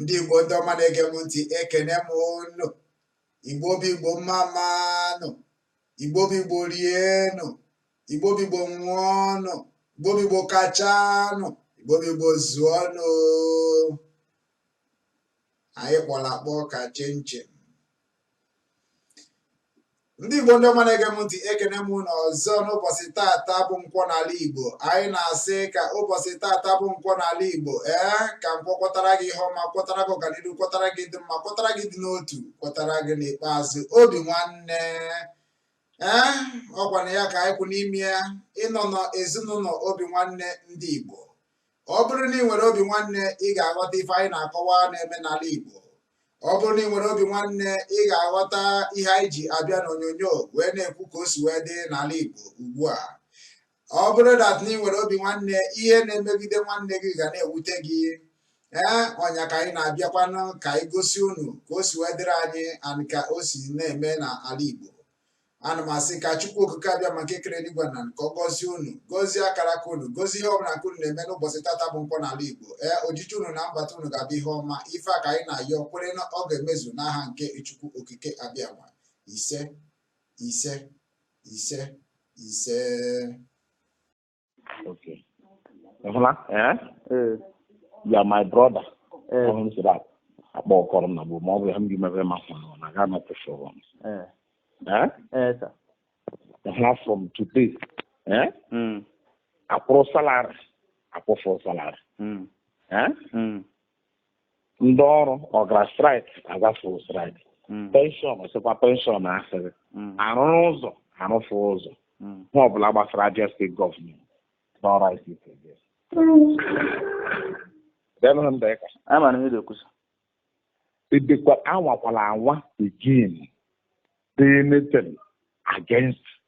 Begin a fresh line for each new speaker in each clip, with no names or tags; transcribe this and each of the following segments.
ndị igbo ndị ọma na-ege m ntị ekene m unu igbo bụ igbo mmammanụ igbo bụ igbo rienụ igbo bụ igbo ṅụọnụ igbo bụ igbo kachanụ igbo bụ igbo zụọnụ anyị kpọrọ akpọ ka chinchin ndị igbo ndị ọma na-ege m ntị ekene m unu ọzọ n'ụbọchị tata bụ nkwọ n'ala igbo anyị na-asị ka ụbọchị tata bụ nkwọ n'ala igbo ee ka nkwọ kwọtara gị ihe ọma kwọtara gị ọganihu kwọtara gị ịdị mma kwọtara gị ịdị n'otu kwọtara gị n'ikpeazụ obi nwanne ee ọ kwa na ya ka anyị kwụ n'ime ya ịnọ n'ezinụlọ obi nwanne ndị igbo ọ bụrụ na ị nwere obi nwanne ị ga-aghọta ife anyị na-akọwa na-eme n'ala Igbo ọ bụrụ na ị nwere obi nwanne ị ga-aghọta ihe anyị ji abịa n'onyonyo wee na-ekwu ka o si wee dị n'ala Igbo ugbu a ọ bụrụ that na ị nwere obi nwanne ihe na-emegide nwanne gị ga na-ewute gị ee ọ nya ka anyị na-abịakwanụ ka anyị gosi unu ka o si wee dịrị anyị and ka o si na-eme n'ala Igbo ana m asị ka chukwu okike abịama nke kere eluigwe na ala ka ọ gọzie unu gọzie akara aka unu gọzie ihe ọbụla ka unu na-eme n'ụbọchị tata bụ nkwọ n'ala igbo ee ojije unu na mbata unu ga-abụ ihe ọma ife a ka anyị na-ayọ kwere na ọ ga-emezu n'aha nke chukwu okike abịama ise ise ise ise
Okay. Ị hụla? Eh? Ee. You are my brother. Ee. Ọhụrụ m sịrị akpọ akpọ ọkọrọ m na gboo ma ọ bụ ya m gị mebe ma fụrụ na ga anọ kwụsị ụgwọ m. Ee. Eh? Ee, sir. Ị hụla from today. Eh? Mm. Akwụrụ salary. Akwụfụrụ salary. Mm. Eh? Mm. ndị ọrụ ọ gara strike agafụ strike mm. pension ọsịkwa pension asịrị mm. arụrụ ụzọ arụfụ ụzọ mm. ihe ọbụla gbasara Abia State government n'ọrụ ICT edekwa anwakwala anwa again anything against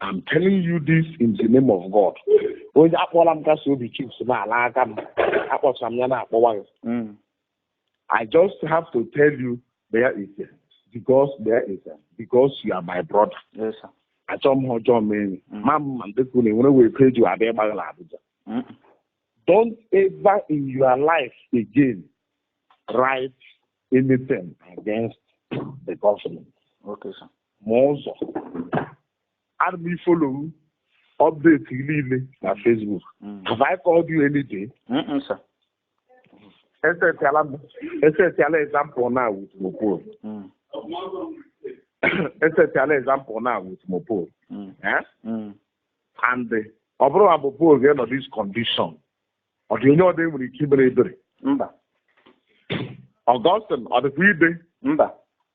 I'm telling you this in the name of God. Onye akpọla m kasị obi chips n'ala aka m akpọchara m ya na-akpọwa gị. Mm. I just have to tell you there is a because you are my brother. Yes, sir.
Achọ m ihe
ọjọọ mee enyi. Mm. Ma mma ndekwu na enwere wee peji abịa ịgbaghị na Abuja. Mm. Don't ever in your life again write anything against the government. Okay, sir.
ma
ụzọ ana m ifolo update gị niile na Facebook Mm. have I called you any day Mm-mm, sir.
esetịala
m esetịala example now with Mopol Mm. esetịala example now with Mopol Mm. eh? Mm. and eh, ọ bụrụ ma Mopol ga-enọ this condition ọ dị onye ọdị nwere ike imere ebere mba Augustine ọ dịkwa ide mba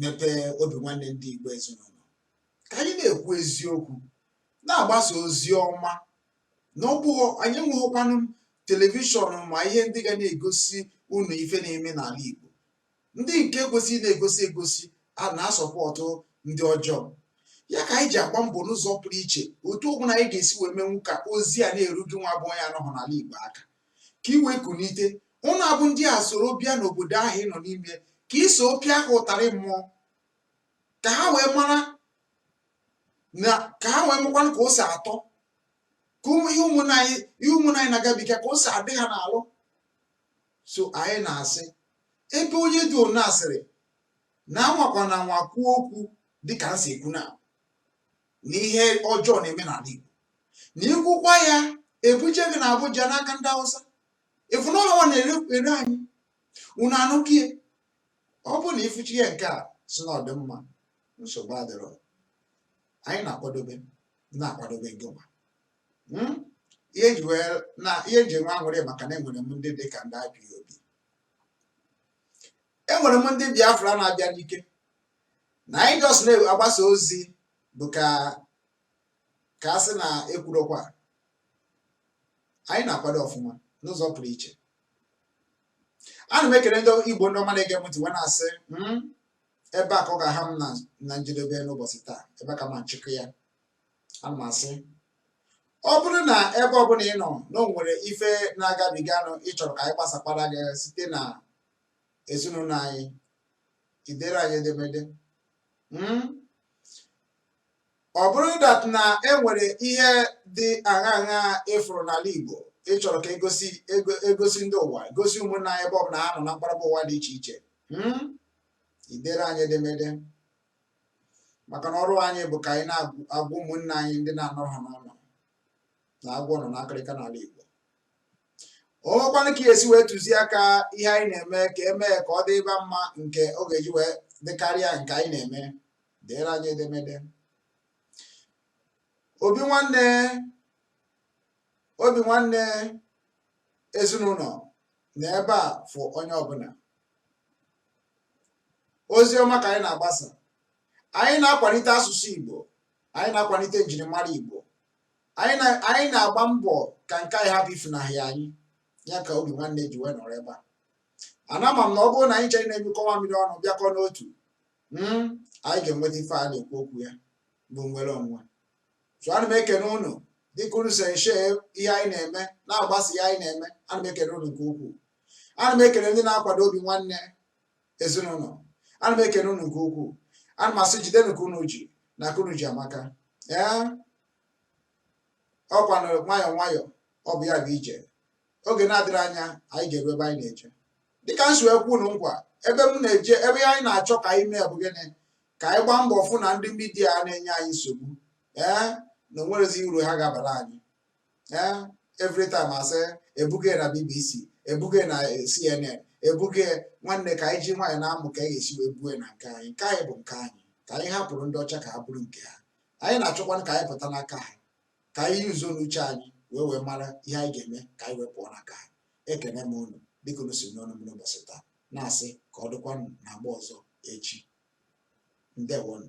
mepee obi nwanne ndị Igbo ezinụlọ ka anyị na-ekwu eziokwu na-agbasa ozi ọma na ọ bụghị anyị enweghịkwanụ telivishọn ma ihe ndị ga na-egosi unu ife na-eme n'ala Igbo ndị nke kwesịrị na-egosi egosi a na-asọpọtụ ndị ọjọọ ya ka anyị ji agba mbọ n'ụzọ pụrụ iche otu ọ bụla anyị ga-esi wee menwu ka ozi a na-eru gị nwa bụ onye anọhụ n'ala Igbo aka ka i wee kunite ọ na-abụ ndị a soro bịa n'obodo ahụ ị nọ n'ime ka i so pịa ha ụtarị mmụọ ka ha wee mara na ka ha wee makwanụ ka o si atọ ka ụmụ ihe ụmụnna anyị na-agabiga ka o si adị ha n'alụ so anyị na-asị ebe onye dị one asịrị na anwakwana anwa kwuo okwu dịka m si ekwu na na ihe ọjọọ na-eme n'ala Igbo na ikwukwa ya ebuje gị na Abuja n'aka ndị Hausa ịfụ na ọ ha nwa na-ere anyị unu anụkie ọ bụrụ na ịfụcha ihe nke a sị na ọ dị mma nsogbu adịrọ anyị na-akwadobe na-akwadobe gị nwa hmm? ihe ji wee na ihe m ji enwe aṅụrị maka na enwere m ndị dị ka ndị IPOB enwere m ndị Biafra na-abịa n'ike na anyị just na-agbasa ozi bụ ka ka a sị na ekwurokwa anyị na-akwado ọfụma n'ụzọ pụrụ iche ana m ekele ndị igbo ndị ọma na-ege m ntị wee na-asị hmm, ebe a ka ọ ga-aha m na njedebe n'ụbọchị taa ebe ka m na-achịkọ ya ana m asị ọ bụrụ na ebe ọbụla ị nọ na o nwere ife na-agabiganụ ịchọrọ ka anyị gbasakwara gị site na ezinụlọ anyị idere anyị edemede hmm? ọ bụrụ that na e nwere ihe dị aṅa aṅa ịfụrụ n'ala Igbo ị chọrọ ka e gosi ndị ụwa gosi ụmụnna anyị ebe ọ bụla ha nọ na mkparaba ụwa dị iche iche hmm? idere anyị edemede maka na ọrụ anyị bụ ka anyị na-agwa ụmụnna anyị ndị na-anọrọ ha n'ụnọ na agwọ nọ n'akịrịka n'ala Igbo o nwekwanụ ka esi wee tụzie aka ihe anyị na-eme ka emee ka ọ dịba mma nke ọ ga-eji wee dịkarịa nke anyị na-eme deere anyị edemede obi nwanne obi nwanne ezinụlọ na ebe a fụ onye ọbụla ozi ọma ka anyị na-agbasa anyị na-akwalite asụsụ Igbo anyị na-akwalite njirimara Igbo anyị na-agba mbọ ka nke anyị hapụ ifunahịa anyị ya ka obi nwanne ji wee nọrọ ebe a ana ma m na ọ bụrụ na anyị chere na-emekọwa mmiri ọnụ bịakọ n'otu hmm, anyị ga-enweta ife a na-ekwu okwu ya bụ nnwere onwe so ana m ekene ụnụ dịka unu si wee share ihe anyị na-eme na-agbasa ihe anyị na-eme ana m ekene ụnụ nke ukwuu ana m ekene ndị na-akwado obi nwanne ezinụlọ ana m ekene ụnụ nke ukwuu ana m asị jidenu ka unu ji na ka unu ji amaka ee ọkwa na nwayọọ nwayọọ ọ bụ ya bụ ije oge na-adịghị anya anyị ga-eru ebe anyị na-eje dịka m si wee kwe unu nkwa ebe m na-eje ebe anyị na-achọ ka anyị mee bụ gịnị ka anyị gbaa mbọ fụ na ndị midia a na-enye anyị nsogbu ee na o nweghizi uru ha ga-abara anyị ee every time asị ebuga ya na bbc ebuga ya na eh, cnn ebuga ya nwanne ka anyị ji nwayọọ na-amụ ka anyị ga-esi wee buo ya na nke anyị nke anyị bụ nke anyị ka anyị hapụrụ ndị ọcha ka ha buru nke ha anyị na-achọkwanụ ka anyị pụta n'aka ha ka anyị use nụ uche anyị wee wee mara ihe anyị ga-eme ka anyị wee pụọ n'aka ha ekene m unu dịka unu si nọnyere m n'ụbọchị taa na-asị ka ọ dịkwanụ n'agba ọzọ echi ndewonụ